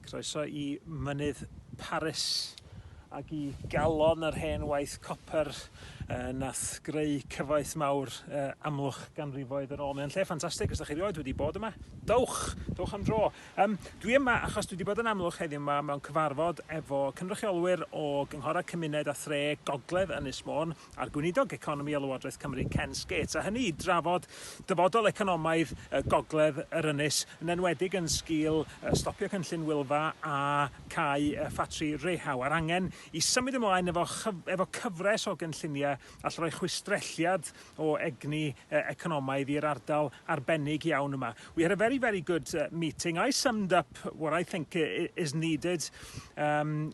Croeso i Mynydd Paris ac i galon yr hen waith copr uh, nath greu cyfoeth mawr uh, amlwch ganrifoedd yn ôl. Mae'n lle ffantastig, os da chi rioed wedi bod yma, dowch, dowch am dro. Um, dwi yma achos dwi wedi bod yn amlwch heddiw yma mewn cyfarfod efo cynrychiolwyr o gynghorau cymuned a thre Gogledd Ynys Môn, a'r Gweinidog Economi o Lywodraeth Cymru Ken Skates, a hynny i drafod dyfodol economaidd y gogledd yr ynys, yn enwedig yn sgil stopio cynllun Wylfa a cau ffatri Rehau, a'r angen i symud ymlaen efo efo cyfres o gynlluniau all roi chwistrelliad o egni economaidd i'r ardal arbennig iawn yma. We had a very, very good meeting. I summed up what I think is needed um,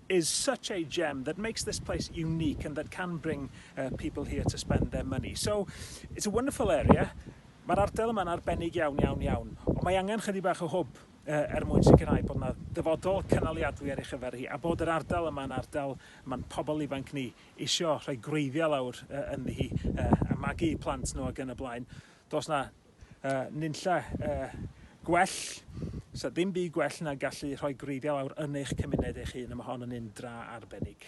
is such a gem that makes this place unique and that can bring uh, people here to spend their money. So it's a wonderful area. Mae'r ardal yma'n arbennig iawn, iawn, iawn, ond mae angen chydig bach o hwb uh, er mwyn sicrhau bod yna dyfodol cynaliadwy ar ei chyfer hi, a bod yr ardal yma'n ardal mae'n pobl ifanc ni isio rhoi gwreiddiau lawr uh, ynddi hi, uh, a magu plant nhw ac yn y blaen. Does na uh, nunlle uh, gwell, so dim byd gwell na gallu rhoi gwreiddiau lawr yn eich cymuned eich hun, a mae hon yn un dra arbennig.